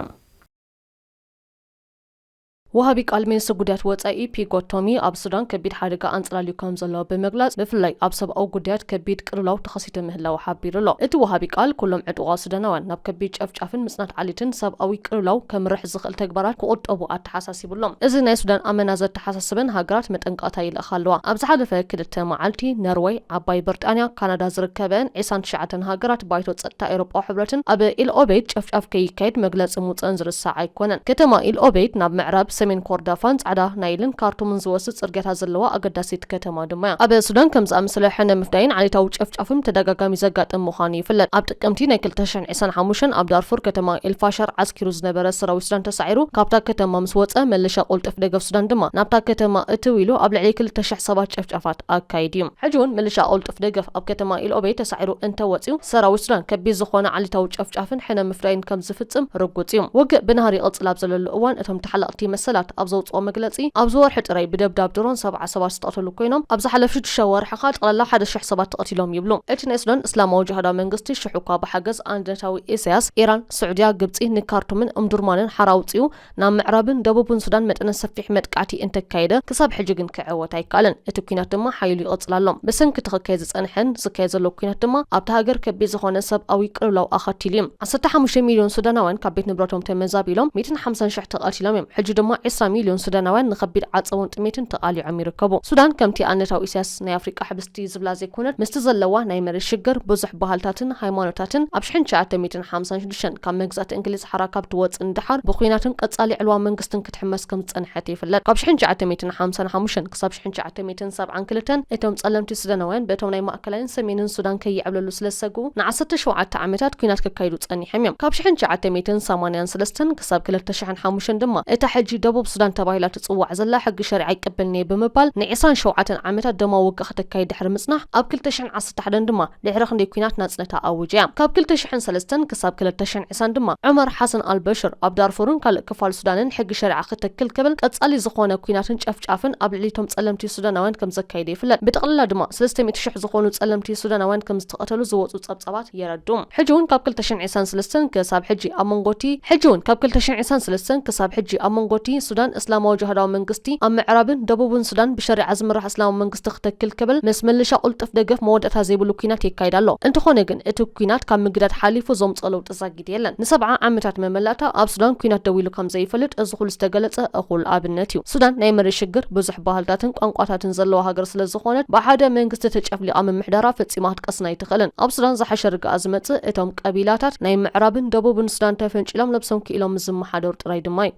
ወሃቢ ቃል ሚኒስትሪ ጉዳያት ወጻኢ ፒጎ ቶሚ ኣብ ሱዳን ከቢድ ሓደጋ ኣንጸላልዩ ከም ዘሎ ብምግላጽ ብፍላይ ኣብ ሰብኣዊ ጉዳያት ከቢድ ቅልውላው ተኸሲቱ ምህላው ሓቢሩ ኣሎ። እቲ ወሃቢ ቃል ኩሎም ዕጡቓት ሱዳናውያን ናብ ከቢድ ጨፍጫፍን ምጽናት ዓሌትን ሰብኣዊ ቅልውላው ከምርሕ ዝኽእል ተግባራት ክቑጠቡ ኣተሓሳሲቡ። ይብሎም። እዚ ናይ ሱዳን ኣመና ዘተሓሳስበን ሃገራት መጠንቀቕታ ይልእኻ ኣለዋ። ኣብ ዝሓለፈ ክልተ መዓልቲ ነርወይ፣ ዓባይ ብርጣንያ፣ ካናዳ ዝርከበእን ዒስራን ትሽዓተን ሃገራት ባይቶ ጸጥታ ኤውሮጳዊ ሕብረትን ኣብ ኢል ኦበይድ ጨፍጫፍ ከይካየድ መግለጺ ምውጸእን ዝርሳዕ ኣይኮነን። ከተማ ኢል ኦበይድ ናብ ምዕራብ፣ ሰሜን ኮርዳፋን ጻዕዳ ናይልን ካርቱምን ዝወስድ ጽርግያታት ዘለዋ ኣገዳሲት ከተማ ድማ'ያ። ኣብ ሱዳን ከምዚ ዝኣመሰለ ሕነ ምፍዳይን ዓሌታዊ ጨፍጫፍን ብተደጋጋሚ ዘጋጥም ምዃኑ ይፍለጥ። ኣብ ጥቅምቲ ናይ ክልተ ሽሕን ዕስራን ሓሙሽተን ኣብ ዳርፉር ከተማ ኤልፋሸር ዓስኪሩ ዝነበረ ሰራዊት ሱዳን ተሳዒሩ ካብታ ከተማ ምስ ወጸ፣ መለሻ ቁልጡፍ ደገፍ ሱዳን ድማ ናብታ ከተማ እትው ኢሉ ኣብ ልዕሊ ክልተ ሽሕ ሰባት ጨፍጫፋት ኣካይዱ እዩ። ሕጂ እውን ምልሻ ቁልጡፍ ደገፍ ኣብ ከተማ ኢልኦበይ ተሳዒሩ እንተ ወጺኡ፣ ሰራዊት ሱዳን ከቢድ ዝኾነ ዓሌታዊ ጨፍጫፍን ሕነ ምፍዳይን ከም ዝፍጽም ርጉጽ እዩ። ውግእ ብናህሪ ይቕጽል ኣብ ዘለሉ እዋን እቶም ተሓለቕቲ መሰላት ኣብ ዘውጽኦ መግለጺ፣ ኣብዚ ወርሒ ጥራይ ብደብዳብ ድሮን ሰብዓ ሰባት ዝተቐተሉ ኮይኖም፣ ኣብ ዝሓለፉ ሽዱሽተ ወርሒ ከኣ ጠቕላላ ሓደ ሽሕ ሰባት ተቐቲሎም ይብሉ። እቲ ናይ ሱዳን እስላማዊ ጅሃዳዊ መንግስቲ፣ ክፍትሑ'ኳ ብሓገዝ ኣንድነታዊ ኢሳያስ፣ ኢራን፣ ስዑድያ፣ ግብጺ ንካርቱምን እምዱርማንን ሓራ ኣውጺኡ ናብ ምዕራብን ደቡብን ሱዳን መጠነ ሰፊሕ መጥቃዕቲ እንተካየደ፣ ክሳብ ሕጂ ግን ክዕወት ኣይከኣለን። እቲ ኲናት ድማ ሓይሉ ይቕጽል ኣሎ። ብሰንኪ እቲ ክካየድ ዝጸንሐን ዝካየድ ዘሎ ኲናት ድማ ኣብታ ሃገር ከቢድ ዝኾነ ሰብኣዊ ቅልውላው ኣኸቲሉ'ዩ። ዓሰርተ ሓሙሽተ ሚልዮን ሱዳናውያን ካብ ቤት ንብረቶም ተመዛቢሎም፣ ሚእትን ሓምሳን ሽሕ ተቐቲሎም እዮም። ሕጂ ድማ ዕስራ ሚልዮን ሱዳናውያን ንኸቢድ ዓጸቦን ጥሜትን ተቓሊዖም ይርከቡ። ሱዳን ከምቲ ኣንድነታዊ ኢሳያስ ናይ ኣፍሪቃ ሕብስ፣ እቲ ዝብላ ዘይኮነት ምስቲ ዘለዋ ናይ መሬት ሽግር ብዙሕ ባህልታትን ሃይማኖታትን ኣብ ሽሕን ትሽዓተ ሚእትን ሓምሳን ሽዱሽተን ካብ መግዛእቲ እንግሊዝ ሓራ ካብ ትወጽእ ንደሓር ብኩናትን ቀጻሊ ዕልዋ መንግስትን ክትሕመስ ከም ዝጸንሐት ይፍለጥ ካብ ሽሕን ትሽዓተ ሚእትን ሓምሳን ሓሙሽተን ክሳብ ሽሕን ትሽዓተ ሚእትን ሰብዓን ክልተን እቶም ጸለምቲ ሱዳናውያን በቶም ናይ ማእከላይን ሰሜንን ሱዳን ከይዕብለሉ ስለ ዝሰግኡ ንዓሰርተ ሸውዓተ ዓመታት ኩናት ከካይዱ ጸኒሐም እዮም ካብ ሽሕን ትሽዓተ ሚእትን ሰማንያን ሰለስተን ክሳብ ክልተ ሽሕን ሓሙሽተን ድማ እታ ሕጂ ደቡብ ሱዳን ተባሂላ ትጽዋዕ ዘላ ሕጊ ሸሪዓ ኣይቀበልን'የ ብምባል ን ዕስራን ሸውዓተን ዓመታት ደማዊ ውግእ ከተካይድ ድሕሪ ምጽናሕ ኣብ ክልተ ሽሕን ዓሰርተ ሓደን ድማ ድሕሪ ክንደይ ኲናት ናጽነታ ኣዊጃ'ያ። ካብ ክልተ ሽሕን ሰለስተን ክሳብ ክልተ ሽሕን ዕስራን ድማ ዑመር ሓሰን ኣልበሽር ኣብ ዳርፉርን ካልእ ክፋል ሱዳንን ሕጊ ሸሪዓ ክትክል ክብል ቀጻሊ ዝኾነ ኲናትን ጨፍጫፍን ኣብ ልዕሊ'ቶም ጸለምቲ ሱዳናውያን ከምዘካየደ ይፍለጥ። ብጠቕላላ ድማ ሰለስተ ሚእቲ ሽሕ ዝኾኑ ጸለምቲ ሱዳናውያን ከም ዝተቐተሉ ዝወጹ ጸብጻባት የረድኡ። ሕጂ'ውን ካብ ክልተ ሽሕን ዒስራን ሰለስተን ክሳብ ሕጂ ኣብ መንጎ'ቲ ሕጂ'ውን ካብ ክልተ ሽሕን ዒስራን ሰለስተን ክሳብ ሕጂ ኣብ መንጎ'ቲ ሱዳን እስላማዊ ጅሃዳዊ መንግስቲ ኣብ ምዕራብን ደቡብን ሱዳን ብሸሪዓ ዝምራሕ እስላማዊ መንግስቲ ክትክል ክብል ምስ ምልሻ ቁልጡፍ ደገፍ መወዳእታ ዘይብሉ ኲናት የካይድ ኣሎ። እንተኾነ ግን እቲ ኲናት ካብ ምግዳድ ሓሊፉ ዘምጽኦ ለውጢ ግዲ የለን። ንሰብዓ ዓመታት መመላእታ ኣብ ሱዳን ኩናት ደው ኢሉ ከም ዘይፈልጥ እዚ ኩሉ ዝተገለጸ እኹል ኣብነት እዩ። ሱዳን ናይ መሬት ሽግር፣ ብዙሕ ባህልታትን ቋንቋታትን ዘለዋ ሃገር ስለ ዝኾነት ብሓደ መንግስቲ ተጨፍሊቓ ምምሕዳራ ፈጺማ ክትቀስን ኣይትኽእልን። ኣብ ሱዳን ዝሓሸ ርግኣ ዝመጽእ እቶም ቀቢላታት ናይ ምዕራብን ደቡብን ሱዳን ተፈንጪሎም ነብሶም ክኢሎም ምስ ዝመሓደሩ ጥራይ ድማ እዩ።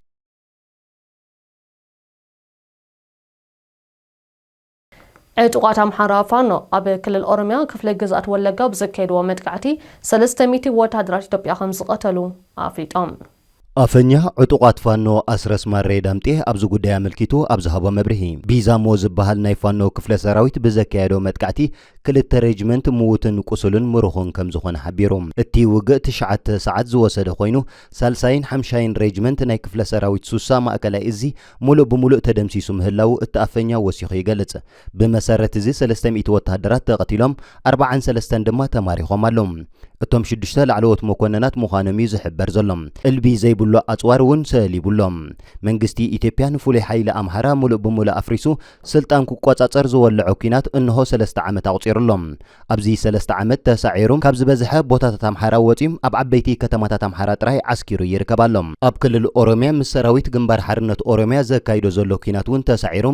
ዕጡቓት ኣምሓራ ፋኖ ኣብ ክልል ኦሮሚያ ክፍለ ግዝኣት ወለጋ ብዘካየድዎ መጥቃዕቲ ሰለስተ ሚእቲ ወተሃደራት ኢትዮጵያ ከምዝቐተሉ ኣፍሊጦም። ኣፈኛ ዕጡቓት ፋኖ ኣስረስ ማሬ ዳምጤ ኣብዚ ጉዳይ ኣመልኪቱ ኣብ ዝሃቦ መብርሂ፣ ቢዛሞ ዝበሃል ናይ ፋኖ ክፍለ ሰራዊት ብዘካየዶ መጥቃዕቲ ክልተ ሬጅመንት ምዉትን ቁሱልን ምሩኽን ከምዝኾነ ሓቢሩ። እቲ ውግእ ትሽዓተ ሰዓት ዝወሰደ ኮይኑ ሳልሳይን ሓምሻይን ሬጅመንት ናይ ክፍለ ሰራዊት ሱሳ ማእከላይ እዚ ሙሉእ ብሙሉእ ተደምሲሱ ምህላዉ እቲ ኣፈኛ ወሲኹ ይገልጽ። ብመሰረት እዚ ሰለስተ ሚእቲ ወተሃደራት ተቐቲሎም ኣርባዓን ሰለስተን ድማ ተማሪኾም ኣለዉ። እቶም ሽዱሽተ ላዕለዎት መኮነናት ምዃኖም እዩ ዝሕበር ዘሎ። እልቢ ዘይብሉ ኣጽዋር እውን ሰሊቡ ኣሎ። መንግስቲ ኢትዮጵያ ንፍሉይ ሓይሊ ኣምሓራ ሙሉእ ብሙሉእ ኣፍሪሱ ስልጣን ክቆጻጸር ዝወለዖ ኲናት እንሆ ሰለስተ ዓመት ኣቑጺሩ ኣሎ። ኣብዚ ሰለስተ ዓመት ተሳዒሩ ካብ ዝበዝሐ ቦታታት ኣምሓራ ወጺኡ ኣብ ዓበይቲ ከተማታት ኣምሓራ ጥራይ ዓስኪሩ ይርከብ ኣሎ። ኣብ ክልል ኦሮምያ ምስ ሰራዊት ግንባር ሓርነት ኦሮምያ ዘካይዶ ዘሎ ኲናት እውን ተሳዒሩ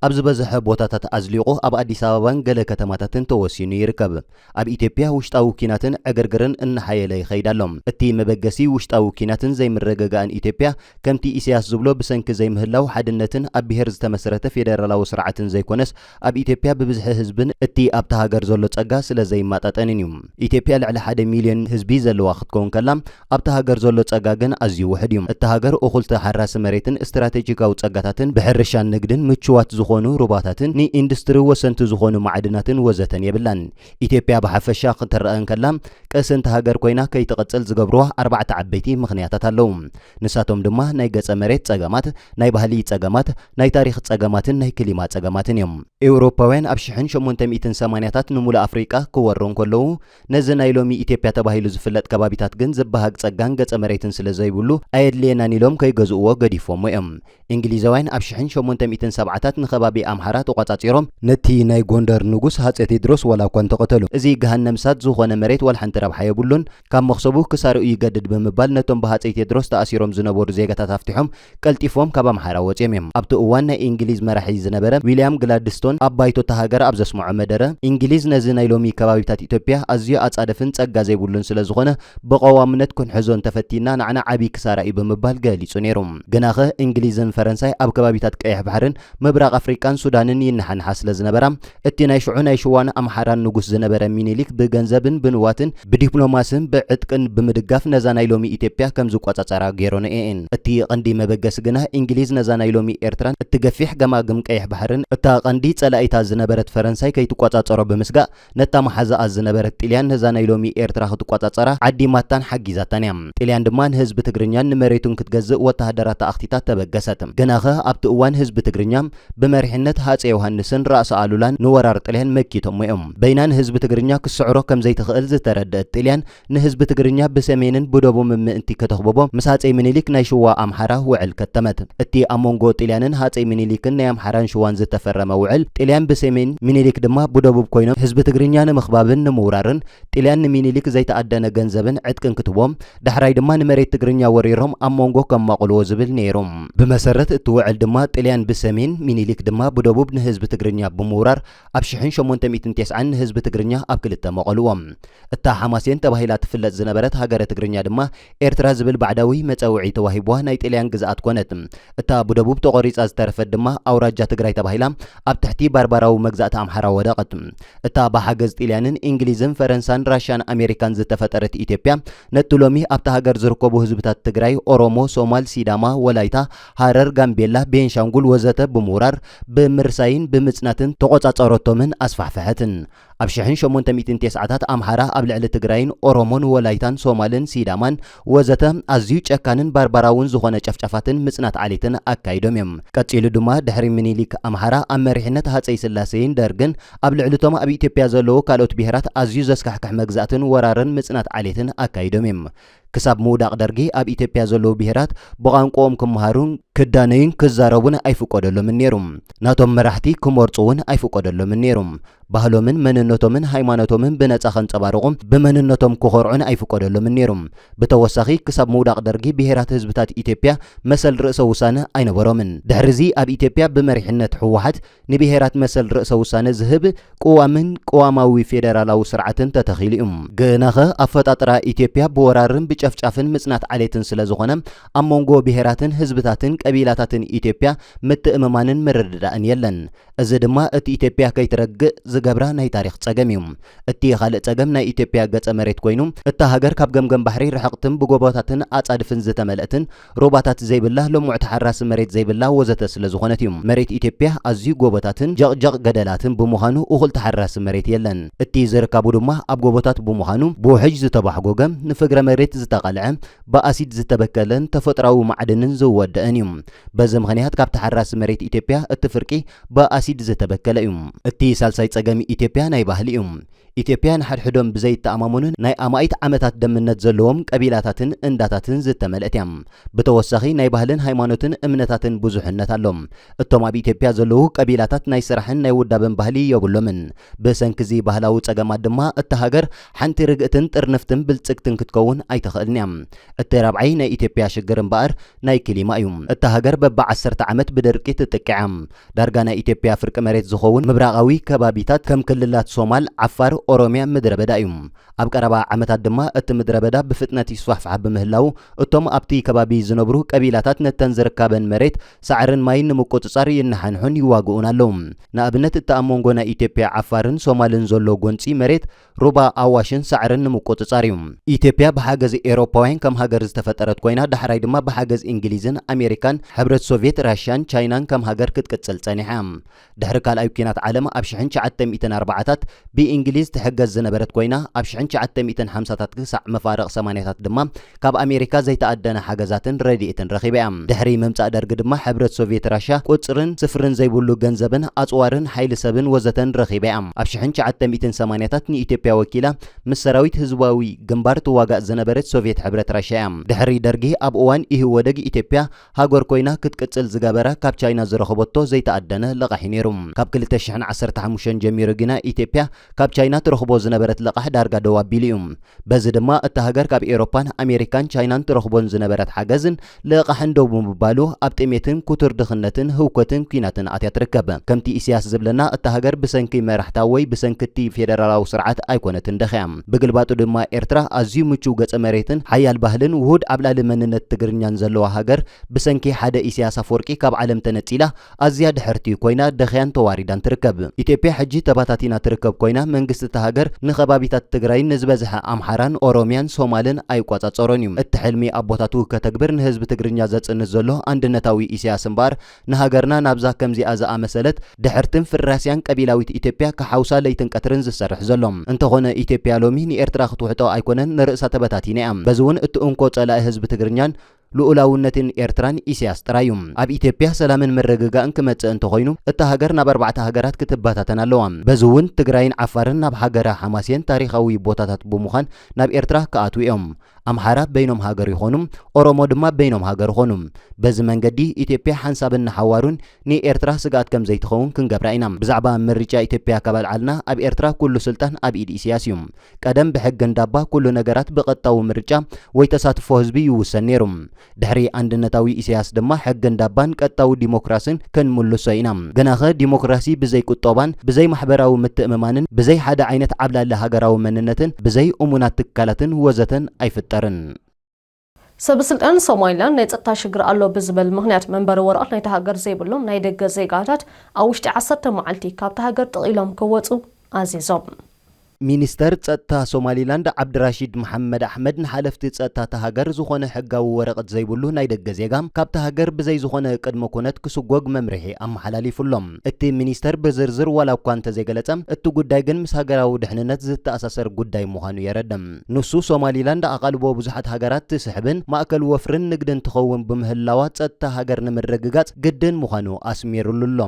ኣብ ዝበዝሐ ቦታታት ኣዝሊቑ ኣብ ኣዲስ ኣበባን ገለ ከተማታትን ተወሲኑ ይርከብ። ኣብ ኢትዮጵያ ውሽጣዊ ኲናትን ዕግርግርን እናሓየለ ይኸይድ ኣሎ። እቲ መበገሲ ውሽጣዊ ኲናትን ዘይምርግጋእን ኢትዮጵያ ከምቲ ኢሳያስ ዝብሎ ብሰንኪ ዘይምህላው ሓድነትን ኣብ ብሄር ዝተመስረተ ፌደራላዊ ስርዓትን ዘይኮነስ ኣብ ኢትዮጵያ ብብዝሒ ህዝብን እቲ ኣብታ ሃገር ዘሎ ጸጋ ስለዘይማጣጠንን እዩ። ኢትዮጵያ ልዕሊ ሓደ ሚልዮን ህዝቢ ዘለዋ ክትከውን ከላ፣ ኣብታ ሃገር ዘሎ ጸጋ ግን ኣዝዩ ውሑድ እዩ። እታ ሃገር እኹል ተሓራሲ መሬትን ስትራቴጂካዊ ጸጋታትን፣ ብሕርሻን ንግድን ምቹዋት ዝኾኑ ሩባታትን ንኢንዱስትሪ ወሰንቲ ዝኾኑ ማዕድናትን ወዘተን የብላን። ኢትዮጵያ ብሓፈሻ ክትረኣ እንከላ ቀሰንቲ ሃገር ኮይና ከይትቕጽል ዝገብሩዋ ኣርባዕተ ዓበይቲ ምኽንያታት ኣለዉ። ንሳቶም ድማ ናይ ገጸ መሬት ጸገማት፣ ናይ ባህሊ ጸገማት፣ ናይ ታሪኽ ጸገማትን ናይ ክሊማ ጸገማትን እዮም። ኤውሮፓውያን ኣብ ሽሕን ሸሞንተ ሚእትን ሰማንያታት ንሙሉእ ኣፍሪቃ ክወሩ እንከለዉ፣ ነዚ ናይ ሎሚ ኢትዮጵያ ተባሂሉ ዝፍለጥ ከባቢታት ግን ዝበሃግ ጸጋን ገጸ መሬትን ስለ ዘይብሉ ኣየድልየናን ኢሎም ከይገዝኡዎ ገዲፎሞ እዮም። እንግሊዛውያን ኣብ ሽሕን ሸሞንተ ሚእትን ሰብዓታት ንከባቢ ኣምሓራ ተቖጻጺሮም፣ ነቲ ናይ ጎንደር ንጉስ ሃጼ ቴድሮስ ዋላ እኳ እንተቐተሉ እዚ ገሃነም እሳት ዝኾነ መሬት ዋላ ሓንቲ ረብሓ የብሉን፣ ካብ መኽሰቡ ክሳርኡ ይገድድ ብምባል ነቶም ብሃጸይ ቴድሮስ ተኣሲሮም ዝነበሩ ዜጋታት ኣፍቲሖም ቀልጢፎም ካብ ኣምሓራ ወጺኦም እዮም። ኣብቲ እዋን ናይ ኢንግሊዝ መራሒ ዝነበረ ዊልያም ግላድስቶን ኣብ ባይቶ እታ ሃገር ኣብ ዘስመዖ መደረ፣ ኢንግሊዝ ነዚ ናይ ሎሚ ከባቢታት ኢትዮጵያ ኣዝዩ ኣጻደፍን ጸጋ ዘይብሉን ስለ ዝኾነ ብቐዋምነት ክንሕዞ እንተፈቲንና ንዓና ዓቢ ክሳራ እዩ ብምባል ገሊጹ ነይሩ። ግናኸ እንግሊዝን ፈረንሳይ ኣብ ከባቢታት ቀይሕ ባሕርን ምብራቕ ኣፍሪቃን ሱዳንን ይነሓንሓ ስለ ዝነበራ፣ እቲ ናይ ሽዑ ናይ ሽዋን ኣምሓራን ንጉስ ዝነበረ ሚኒሊክ ብገንዘብን ብንዋትን ብዲፕሎማስን ብዕጥቅን ብምድጋፍ ነዛ ናይ ሎሚ ኢትዮጵያ ከም ዝቆጻጸራ ገይሮንኤን። እቲ ቐንዲ መበገሲ ግና ኢንግሊዝ ነዛ ናይ ሎሚ ኤርትራን እቲ ገፊሕ ገማግም ቀይሕ ባሕርን እታ ቐንዲ ጸላኢታ ዝነበረት ፈረንሳይ ከይትቆጻጸሮ ብምስጋእ፣ ነታ መሓዛኣ ዝነበረት ጥልያን ነዛ ናይ ሎሚ ኤርትራ ክትቆጻጸራ ዓዲማታን ሓጊዛታን እያ። ጥልያን ድማ ንህዝቢ ትግርኛን ንመሬቱን ክትገዝእ ወተሃደራታ ኣኽቲታ ተበገሰት። ግናኸ ኣብቲ እዋን ህዝቢ ትግርኛ ብመሪሕነት ሃጼ ዮሃንስን ራእሲ ኣሉላን ንወራር ጥልያን መኪቶሞ እዮም። በይና ንህዝቢ ትግርኛ ክትስዕሮ ከም ዘይትኽእል ዝተረደእት ጥልያን ንህዝቢ ትግርኛ ብሰሜንን ብደቡምን ምእንቲ ከተኽብቦ ምስ ሃጸይ ምኒሊክ ናይ ሽዋ ኣምሓራ ውዕል ከተመት። እቲ ኣብ መንጎ ጥልያንን ሃጸይ ምኒሊክን ናይ ኣምሓራን ሽዋን ዝተፈረመ ውዕል፣ ጥልያን ብሰሜን፣ ምኒሊክ ድማ ብደቡብ ኮይኖም ህዝቢ ትግርኛ ንምኽባብን ንምውራርን፣ ጥልያን ንምኒሊክ ዘይተኣደነ ገንዘብን ዕጥቅን ክትቦ፣ ዳሕራይ ድማ ንመሬት ትግርኛ ወሪሮም ኣብ መንጎ ከማቕልዎ ዝብል ነይሩ። ብመሰረት እቲ ውዕል ድማ ጥልያን ብሰሜን፣ ምኒሊክ ድማ ብደቡብ ንህዝቢ ትግርኛ ብምውራር ኣብ ሽሕን ሸሞንተ ሚእትን ቴስዓን ንህዝቢ ትግርኛ ኣብ ክልተ መቐሉዎ። እታ ሓማሴን ተባሂላ ትፍለጥ ዝነበረት ሃገረ ትግርኛ ድማ ኤርትራ ዝብል ባዕዳዊ መጸውዒ ተዋሂቡዋ ናይ ጥልያን ግዝኣት ኮነት። እታ ብደቡብ ተቖሪጻ ዝተረፈት ድማ ኣውራጃ ትግራይ ተባሂላ ኣብ ትሕቲ ባርባራዊ መግዛእቲ ኣምሓራ ወደቐት። እታ ብሓገዝ ጥልያንን እንግሊዝን ፈረንሳን ራሻን ኣሜሪካን ዝተፈጠረት ኢትዮጵያ ነቲ ሎሚ ኣብታ ሃገር ዝርከቡ ህዝብታት ትግራይ፣ ኦሮሞ፣ ሶማል፣ ሲዳማ፣ ወላይታ፣ ሃረር፣ ጋምቤላ፣ ቤንሻንጉል ወዘተ ብምውራር፣ ብምርሳይን ብምጽናትን ተቖጻጸረቶምን ኣስፋሕፈሐትን። ኣብ ሽሕን ሸሞንተ ሚእትን ቴስዓታት ኣምሓራ ኣብ ልዕሊ ትግራይን ኦሮሞን ወላይታን ሶማልን ሲዳማን ወዘተ ኣዝዩ ጨካንን ባርባራውን ዝኾነ ጨፍጫፋትን ምጽናት ዓሌትን ኣካይዶም እዮም። ቀጺሉ ድማ ድሕሪ ምኒሊክ ኣምሓራ ኣብ መሪሕነት ሃጸይ ስላሴይን ደርግን ኣብ ልዕሊ'ቶም ኣብ ኢትዮጵያ ዘለዉ ካልኦት ብሄራት ኣዝዩ ዘስካሕክሕ መግዛእትን ወራርን ምጽናት ዓሌትን ኣካይዶም እዮም። ክሳብ ምውዳቕ ደርጊ ኣብ ኢትዮጵያ ዘለዉ ብሄራት ብቛንቁኦም ክመሃሩ፣ ክዳነዩን ክዛረቡን ኣይፍቆደሎምን ነይሩ። ናቶም መራሕቲ ክመርጹ እውን ኣይፍቆደሎምን ነይሩ። ባህሎምን መንነቶምን ሃይማኖቶምን ብነጻ ከንጸባርቑ፣ ብመንነቶም ክኾርዑን ኣይፍቆደሎምን ነይሩ። ብተወሳኺ ክሳብ ምውዳቕ ደርጊ ብሄራት ህዝብታት ኢትዮጵያ መሰል ርእሰ ውሳነ ኣይነበሮምን። ድሕሪ'ዚ ኣብ ኢትዮጵያ ብመሪሕነት ህወሓት፣ ንብሄራት መሰል ርእሰ ውሳነ ዝህብ ቅዋምን ቅዋማዊ ፌደራላዊ ስርዓትን ተተኺሉ እዩ። ግናኸ ኣፈጣጥራ ኢትዮጵያ ብወራርን ብጨፍጫፍን ምፅናት ዓሌትን ስለዝኾነ ኣብ መንጎ ብሄራትን ህዝብታትን ቀቢላታትን ኢትዮጵያ ምትእምማንን ምርድዳእን የለን። እዚ ድማ እቲ ኢትዮጵያ ከይትረግእ ዝገብራ ናይ ታሪኽ ፀገም እዩ። እቲ ኻልእ ፀገም ናይ ኢትዮጵያ ገፀ መሬት ኮይኑ እታ ሃገር ካብ ገምገም ባሕሪ ርሕቕትን ብጎቦታትን ኣፃድፍን ዝተመልእትን ሩባታት ዘይብላ፣ ለሙዕ ተሓራሲ መሬት ዘይብላ ወዘተ ስለ ዝኾነት እዩ። መሬት ኢትዮጵያ ኣዝዩ ጎቦታትን ጀቕጀቕ ገደላትን ብምዃኑ እኹል ተሓራሲ መሬት የለን። እቲ ዝርካቡ ድማ ኣብ ጎቦታት ብምዃኑ ብውሕጅ ዝተባሕጎገ፣ ንፍግረ መሬት ዝተቐልዐ፣ ብኣሲድ ዝተበከለን ተፈጥሮኣዊ ማዕድንን ዝወደእን እዩ። በዚ ምኽንያት ካብ ተሓራሲ መሬት ኢትዮጵያ እቲ ፍርቂ ብኣሲድ ዝተበከለ እዩ። እቲ ሳልሳይ ፀገም ኢትዮጵያ ናይ ባህሊ እዩ። ኢትዮጵያ ንሓድሕዶም ብዘይተኣማመኑን ናይ ኣማኢት ዓመታት ደምነት ዘለዎም ቀቢላታትን እንዳታትን ዝተመልእት እያ። ብተወሳኺ ናይ ባህልን ሃይማኖትን እምነታትን ብዙሕነት ኣሎ። እቶም ኣብ ኢትዮጵያ ዘለዉ ቀቢላታት ናይ ስራሕን ናይ ውዳበን ባህሊ የብሎምን። ብሰንኪ እዚ ባህላዊ ጸገማት ድማ እታ ሃገር ሓንቲ ርግእትን ጥርንፍትን ብልጽግትን ክትከውን ኣይትኽእልን እያ። እቲ ራብዓይ ናይ ኢትዮጵያ ሽግር እምበኣር ናይ ክሊማ እዩ። እታ ሃገር በቢ ዓሰርተ ዓመት ብድርቂ ትጥቅዕ እያ። ዳርጋ ናይ ኢትዮጵያ ፍርቂ መሬት ዝኸውን ምብራቓዊ ከባቢታት ከም ክልላት ሶማል፣ ዓፋር፣ ኦሮምያ ምድረ በዳ እዩ። ኣብ ቀረባ ዓመታት ድማ እቲ ምድረ በዳ ብፍጥነት ይስፋሕፋሕ ብምህላዉ እቶም ኣብቲ ከባቢ ዝነብሩ ቀቢላታት ነተን ዝርካበን መሬት ሳዕርን ማይን ንምቁጽጻር ይነሓንሑን ይዋግኡን ኣለዉ። ንኣብነት እቲ ኣብ መንጎ ናይ ኢትዮጵያ ዓፋርን ሶማልን ዘሎ ጎንጺ መሬት ሩባ ኣዋሽን ሳዕርን ንምቁጽጻር እዩ። ኢትዮጵያ ብሓገዝ ኤውሮፓውያን ከም ሃገር ዝተፈጠረት ኮይና ዳሕራይ ድማ ብሓገዝ እንግሊዝን ኣሜሪካን ሕብረት ሶቭየት ራሻን ቻይናን ከም ሃገር ክትቅጽል ጸኒሓ። ድሕሪ ካልኣይ ኲናት ዓለም ኣብ ሽሕን ትሽዓተ ሚእትን ኣርባዓታት ብእንግሊዝ ትሕገዝ ዝነበረት ኮይና ኣብ ሽሕን ትሽዓተ ሚእትን ሓምሳታት ክሳዕ መፋርቕ ሰማንያታት ድማ ካብ ኣሜሪካ ዘይተኣደነ ሓገዛትን ረዲኤትን ረኺባ እያ። ድሕሪ ምምጻእ ደርጊ ድማ ሕብረት ሶቭየት ራሻ ቁጽርን ስፍርን ዘይብሉ ገንዘብን ኣጽዋርን ሓይሊ ሰብን ወዘተን ረኺባ እያ። ኣብ ሽሕን ትሽዓተ ሚእትን ሰማንያታት ንኢትዮጵያ ወኪላ ምስ ሰራዊት ህዝባዊ ግንባር ትዋጋእ ዝነበረት ሶቭየት ሕብረት ራሻ እያ። ድሕሪ ደርጊ ኣብ እዋን ኢህወደግ ኢትዮጵያ ሃገር ኮይና ክትቅጽል ዝገበረ ካብ ቻይና ዝረኸበቶ ዘይተኣደነ ለቓሒ ነይሩ። ካብ ክልተ ሽሕን ዓሰርተ ሓሙሽተን ጀሚሩ ግና ኢትዮጵያ ካብ ቻይና ትረኽቦ ዝነበረት ለቓሕ ዳርጋ ደው ኣቢሉ እዩ። በዚ ድማ እታ ሃገር ካብ ኤሮፓን ኣሜሪካን ቻይናን ትረኽቦን ዝነበረት ሓገዝን ለቓሕን ደው ብምባሉ ኣብ ጥሜትን ኩቱር ድኽነትን ህውከትን ኩናትን ኣትያ ትርከብ። ከምቲ ኢሲያስ ዝብለና እታ ሃገር ብሰንኪ መራሕታ ወይ ብሰንኪቲ ፌደራላዊ ስርዓት ኣይኮነትን ደኺያ። ብግልባጡ ድማ ኤርትራ ኣዝዩ ምቹው ገጸ መሬትን ሓያል ባህልን ውሁድ ዓብላሊ መንነት ትግርኛን ዘለዋ ሃገር ብሰንኪ ሓደ ኢሰያስ ኣፍወርቂ ካብ ዓለም ተነጺላ ኣዝያ ድሕርቲ ኮይና ደኽያን ተዋሪዳን ትርከብ። ኢትዮጵያ ሕጂ ተባታቲና ትርከብ ኮይና መንግስቲ እታ ሃገር ንከባቢታት ትግራይን ንዝበዝሐ ኣምሓራን ኦሮምያን ሶማልን ኣይቋጻጸሮን እዩ። እቲ ሕልሚ ኣቦታቱ ከተግብር ንህዝቢ ትግርኛ ዘጽንት ዘሎ ኣንድነታዊ ኢሰያስ እምበኣር ንሃገርና ናብዛ ከምዚኣ ዝኣመሰለት ድሕርትን ፍራስያን ቀቢላዊት ኢትዮጵያ ክሓውሳ ለይትን ቀትርን ዝሰርሕ ዘሎ። እንተኾነ ኢትዮጵያ ሎሚ ንኤርትራ ክትውሕጦ ኣይኮነን ንርእሳ ተበታቲና እያ። በዚ እውን እቲ እንኮ ጸላኢ ህዝቢ ትግርኛን ልኡላውነትን ኤርትራን ኢሲያስ ጥራይ እዩ። ኣብ ኢትዮጵያ ሰላምን ምርግጋእን ክመጽእ እንተኾይኑ እታ ሃገር ናብ ኣርባዕተ ሃገራት ክትበታተን ኣለዋ። በዚ እውን ትግራይን ዓፋርን ናብ ሃገረ ሓማሴን ታሪኻዊ ቦታታት ብምዃን ናብ ኤርትራ ክኣትዉ እዮም። ኣምሓራ በይኖም ሃገር ይኾኑ፣ ኦሮሞ ድማ በይኖም ሃገር ኾኑ። በዚ መንገዲ ኢትዮጵያ ሓንሳብን ንሓዋሩን ንኤርትራ ስግኣት ከም ዘይትኸውን ክንገብራ ኢና። ብዛዕባ ምርጫ ኢትዮጵያ ካብ ኣልዓልና ኣብ ኤርትራ ኩሉ ስልጣን ኣብ ኢድ ኢሲያስ እዩ። ቀደም ብሕጊ እንዳባ ኩሉ ነገራት ብቐጥታዊ ምርጫ ወይ ተሳትፎ ህዝቢ ይውሰን ነይሩ። ድሕሪ ኣንድነታዊ ኢሰያስ ድማ ሕጊ እንዳባን ቀጥታዊ ዲሞክራስን ክንምልሶ ኢና። ግናኸ ዲሞክራሲ ብዘይ ቁጦባን ብዘይ ማሕበራዊ ምትእምማንን ብዘይ ሓደ ዓይነት ዓብላሊ ሃገራዊ መንነትን ብዘይ እሙናት ትካላትን ወዘተን ኣይፍጠርን። ሰበስልጣን ሶማሊላንድ ናይ ጸጥታ ሽግር ኣሎ ብዝበል ምኽንያት መንበሪ ወረቐት ናይታ ሃገር ዘይብሎም ናይ ደገ ዜጋታት ኣብ ውሽጢ ዓሰርተ መዓልቲ ካብታ ሃገር ጥቕኢሎም ክወጹ ኣዚዞም። ሚኒስተር ጸጥታ ሶማሊላንድ ዓብድራሺድ መሓመድ ኣሕመድ ንሓለፍቲ ጸጥታ እታ ሃገር ዝኾነ ሕጋዊ ወረቕት ዘይብሉ ናይ ደገ ዜጋ ካብታ ሃገር ብዘይ ዝኾነ ቅድመ ኩነት ክስጎግ መምርሒ ኣመሓላሊፉ ኣሎ። እቲ ሚኒስተር ብዝርዝር ዋላ እኳ እንተዘይገለጸ እቲ ጉዳይ ግን ምስ ሃገራዊ ድሕንነት ዝተኣሳሰር ጉዳይ ምዃኑ የረድእ። ንሱ ሶማሊላንድ ኣቓልቦ ብዙሓት ሃገራት ትስሕብን ማእከል ወፍርን ንግድን ትኸውን ብምህላዋ ጸጥታ ሃገር ንምርግጋጽ ግድን ምዃኑ ኣስሚርሉ ኣሎ።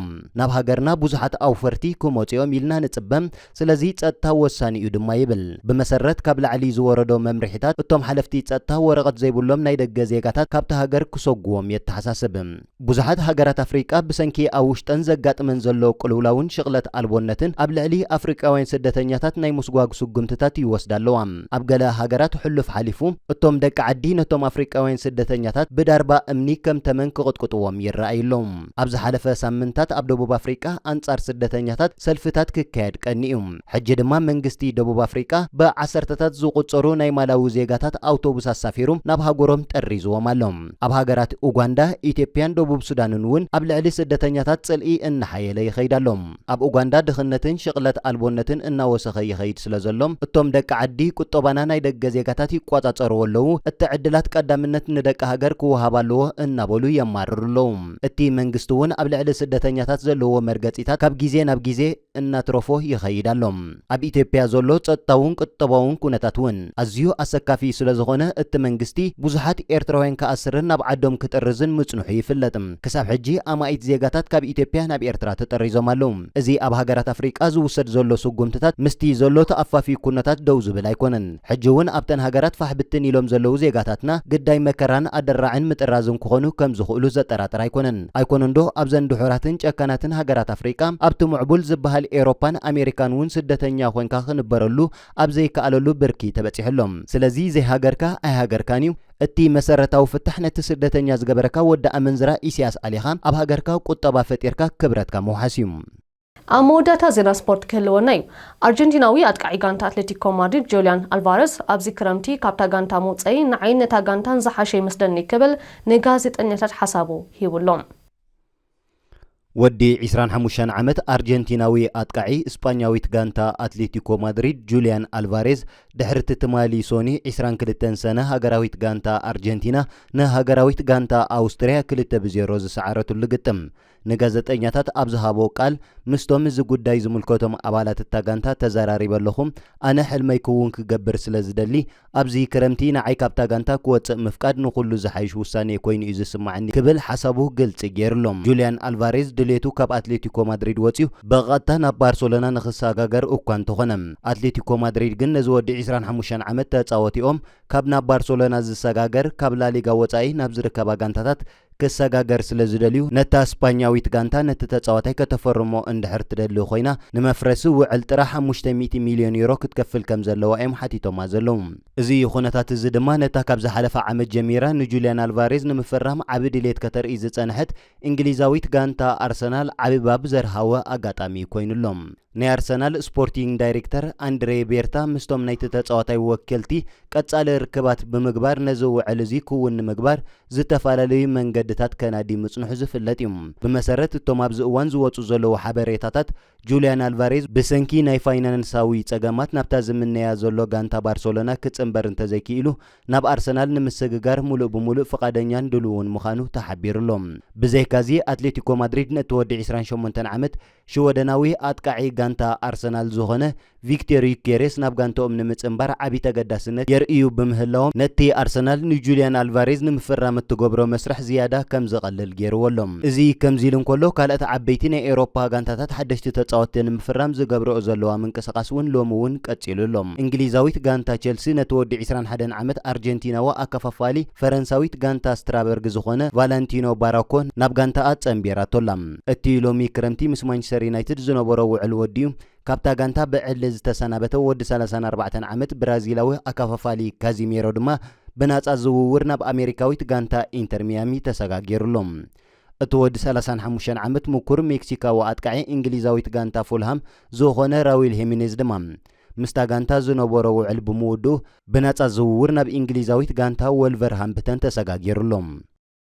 ናብ ሃገርና ብዙሓት ኣውፈርቲ ክመጹ'ዮም ኢልና ንጽበ፣ ስለዚ ጸጥታ ወሳኒ'ዩ ድማ ይብል። ብመሰረት ካብ ላዕሊ ዝወረዶ መምርሒታት፣ እቶም ሓለፍቲ ጸጥታ ወረቐት ዘይብሎም ናይ ደገ ዜጋታት ካብታ ሃገር ክሰጉዎም የተሓሳስብ። ብዙሓት ሃገራት ኣፍሪቃ ብሰንኪ ኣብ ውሽጠን ዘጋጥመን ዘሎ ቅልውላውን ሽቕለት ኣልቦነትን ኣብ ልዕሊ ኣፍሪቃውያን ስደተኛታት ናይ ምስጓግ ስጉምትታት ይወስዳ ኣለዋ። ኣብ ገለ ሃገራት ሕሉፍ ሓሊፉ እቶም ደቂ ዓዲ ነቶም ኣፍሪቃውያን ስደተኛታት ብዳርባ እምኒ ከም ተመን ክቕጥቅጥዎም ይረኣዩ ኣለዉ። ኣብ ዝሓለፈ ሳምንታት ኣብ ደቡብ ኣፍሪቃ ኣንጻር ስደተኛታት ሰልፍታት ክካየድ ቀኒ'ዩ። ሕጂ ድማ መንግስቲ ደቡብ ኣፍሪቃ ብዓሰርተታት ዝቑጸሩ ናይ ማላዊ ዜጋታት ኣውቶቡስ ኣሳፊሩ ናብ ሃገሮም ጠሪዝዎም ኣሎ። ኣብ ሃገራት ኡጓንዳ፣ ኢትዮጵያን ደቡብ ሱዳንን'ውን ኣብ ልዕሊ ስደተኛታት ጽልኢ እናሓየለ ይኸይድ ኣሎ። ኣብ ኡጋንዳ ድኽነትን ሽቕለት ኣልቦነትን እናወሰኸ ይኸይድ ስለ ዘሎ፣ እቶም ደቂ ዓዲ ቁጠባና ናይ ደገ ዜጋታት ይቆጻጸርዎ ኣለዉ፣ እቲ ዕድላት ቀዳምነት ንደቂ ሃገር ክወሃብ ኣለዎ እናበሉ የማርሩ ኣለዉ። እቲ መንግስቲ'ውን ኣብ ልዕሊ ስደተኛታት ዘለዎ መርገጺታት ካብ ግዜ ናብ ግዜ እናትረፎ ይኸይድ ኣሎ። ኣብ ኢትዮጵያ ዘሎ ጸጥታውን ቁጠባውን ኩነታት ውን ኣዝዩ ኣሰካፊ ስለዝኾነ እቲ መንግስቲ ብዙሓት ኤርትራውያን ክኣስርን ናብ ዓዶም ክጥርዝን ምጽንሑ ይፍለጥ። ክሳብ ሕጂ ኣማኢት ዜጋታት ካብ ኢትዮጵያ ናብ ኤርትራ ተጠሪዞም ኣለዉ። እዚ ኣብ ሃገራት ኣፍሪቃ ዝውሰድ ዘሎ ስጉምትታት ምስቲ ዘሎ ተኣፋፊ ኩነታት ደው ዝብል ኣይኮነን። ሕጂ እውን ኣብተን ሃገራት ፋሕ ብትን ኢሎም ዘለዉ ዜጋታትና ግዳይ መከራን ኣደራዕን ምጥራዝን ክኾኑ ከም ዝኽእሉ ዘጠራጥር ኣይኮነን። ኣይኮነንዶ ኣብዘን ድሑራትን ጨካናትን ሃገራት ኣፍሪቃ፣ ኣብቲ ምዕቡል ዝበሃል ኤሮፓን ኣሜሪካን እውን ስደተኛ ኮንካ ክንበረሉ ኣብ ዘይከኣለሉ ብርኪ ተበጺሑ ኣሎ። ስለዚ ዘይሃገርካ ኣይሃገርካን እዩ። እቲ መሰረታዊ ፍታሕ ነቲ ስደተኛ ዝገበረካ ወዲ ኣመንዝራ ኢሲያስ ኣሊኻ ኣብ ሃገርካ ቁጠባ ፈጢርካ ክብረትካ ምውሓስ እዩ። ኣብ መወዳእታ ዜና ስፖርት ክህልወና እዩ። ኣርጀንቲናዊ ኣጥቃዒ ጋንታ ኣትለቲኮ ማድሪድ ጆልያን ኣልቫረዝ ኣብዚ ክረምቲ ካብታ ጋንታ ምውፀይ ንዓይን ነታ ጋንታን ዝሓሸ ይመስለኒ ክብል ንጋዜጠኛታት ሓሳቡ ሂቡ ኣሎ። ወዲ ዒስራን ሓሙሽተን ዓመት ኣርጀንቲናዊ ኣጥቃዒ ስጳኛዊት ጋንታ ኣትሌቲኮ ማድሪድ ጁልያን ኣልቫሬዝ ድሕሪ'ቲ ትማሊ ሶኒ ዒስራን ክልተን ሰነ ሃገራዊት ጋንታ ኣርጀንቲና ንሃገራዊት ጋንታ ኣውስትርያ ክልተ ብ ዜሮ ዝሰዓረትሉ ግጥም ንጋዘጠኛታት ኣብ ዝሃቦ ቃል፣ ምስቶም እዚ ጉዳይ ዝምልከቶም ኣባላት እታ ጋንታ ተዘራሪበ ኣለኹ፣ ኣነ ሕልመይ ክውን ክገብር ስለ ዝደሊ፣ ኣብዚ ክረምቲ ንዓይ ካብታ ጋንታ ክወጽእ ምፍቃድ ንኹሉ ዝሓይሽ ውሳኔ ኮይኑ እዩ ዝስማዓኒ ክብል ሓሳቡ ግልጺ ጌሩ'ሎ። ጁልያን ኣልቫሬዝ ድሌቱ ካብ ኣትሌቲኮ ማድሪድ ወጺኡ ብቐጥታ ናብ ባርሰሎና ንኽሰጋገር እኳ እንተኾነ፣ ኣትሌቲኮ ማድሪድ ግን ነዚ ወዲ ዕስራን ሓሙሽተን ዓመት ተጻወቲኦም ካብ ናብ ባርሰሎና ዝሰጋገር ካብ ላሊጋ ወጻኢ ናብ ዝርከባ ጋንታታት ክሰጋገር ስለ ዝደልዩ፣ ነታ ስፓኛዊት ጋንታ ነቲ ተጻዋታይ ከተፈርሞ እንድሕር ትደሊ ኮይና፣ ንመፍረሲ ውዕል ጥረ ሓሙሽተ ሚእቲ ሚልዮን ዩሮ ክትከፍል ከም ዘለዋ እዮም ሓቲቶማ ዘለዉ። እዚ ኩነታት እዚ ድማ ነታ ካብ ዝሓለፈ ዓመት ጀሚራ ንጁልያን ኣልቫሬዝ ንምፍራም ዓቢ ድሌት ከተርኢ ዝጸንሐት እንግሊዛዊት ጋንታ ኣርሰናል ዓቢ ባብ ዘርሃወ ኣጋጣሚ ኮይኑ ኣሎ። ናይ ኣርሰናል ስፖርቲንግ ዳይሬክተር ኣንድሬ ቤርታ ምስቶም ናይቲ ተጻዋታይ ወከልቲ ቀጻሊ ርክባት ብምግባር ነዚ ውዕል እዚ ክውን ንምግባር ዝተፈላለዩ መንገድታት ከናዲ ምጽንሑ ዝፍለጥ እዩ። ብመሰረት እቶም ኣብዚ እዋን ዝወጹ ዘለዉ ሓበሬታታት ጁልያን ኣልቫሬዝ ብሰንኪ ናይ ፋይናንሳዊ ጸገማት ናብታ ዝምነያ ዘሎ ጋንታ ባርሰሎና ክጽንበር እንተዘይክኢሉ ናብ ኣርሰናል ንምስግጋር ምሉእ ብምሉእ ፍቓደኛን ድሉውን ምዃኑ ተሓቢሩ ኣሎ። ብዘይካዚ ኣትሌቲኮ ማድሪድ ነቲ ወዲ ዕስራን ሸሞንተን ዓመት ሽወደናዊ ኣጥቃዒ ጋንታ ኣርሰናል ዝኾነ ቪክቴር ዩኬሬስ ናብ ጋንትኦም ንምጽንባር ዓቢ ተገዳስነት የርእዩ ብምህላዎም ነቲ ኣርሰናል ንጁልያን ኣልቫሬዝ ንምፍራም እትገብሮ መስርሕ ዝያዳ ከም ዝቐልል ገይርዎ ኣሎ። እዚ ከምዚ ኢሉ እንከሎ፣ ካልኦት ዓበይቲ ናይ ኤውሮፓ ጋንታታት ሓደሽቲ ተጻወትቲ ንምፍራም ዝገብርኦ ዘለዋ ምንቅስቓስ እውን ሎሚ እውን ቀጺሉ ኣሎ። እንግሊዛዊት ጋንታ ቸልሲ ነቲ ወዲ ዕስራን ሓደን ዓመት ኣርጀንቲናዊ ኣከፋፋሊ ፈረንሳዊት ጋንታ ስትራበርግ ዝኾነ ቫላንቲኖ ባራኮ ናብ ጋንታኣ ጸንቢራቶ ኣላ። እቲ ሎሚ ክረምቲ ምስ ማንቸስተር ዩናይትድ ዝነበሮ ውዕል ወዲኡ ካብታ ጋንታ ብዕሊ ዝተሰናበተ ወዲ ሰላሳን ኣርባዕተን ዓመት ብራዚላዊ ኣከፋፋሊ ካዚሜሮ ድማ ብናጻ ዝውውር ናብ ኣሜሪካዊት ጋንታ ኢንተር ሚያሚ ተሰጋጊሩ ኣሎ። እቲ ወዲ ሰላሳን ሓሙሽተን ዓመት ምኩር ሜክሲካዊ ኣጥቃዒ እንግሊዛዊት ጋንታ ፉልሃም ዝኾነ ራዊል ሄሚኔዝ ድማ ምስታ ጋንታ ዝነበሮ ውዕል ብምውድኡ ብናጻ ዝውውር ናብ እንግሊዛዊት ጋንታ ወልቨርሃምፕተን ተሰጋጊሩ ኣሎ።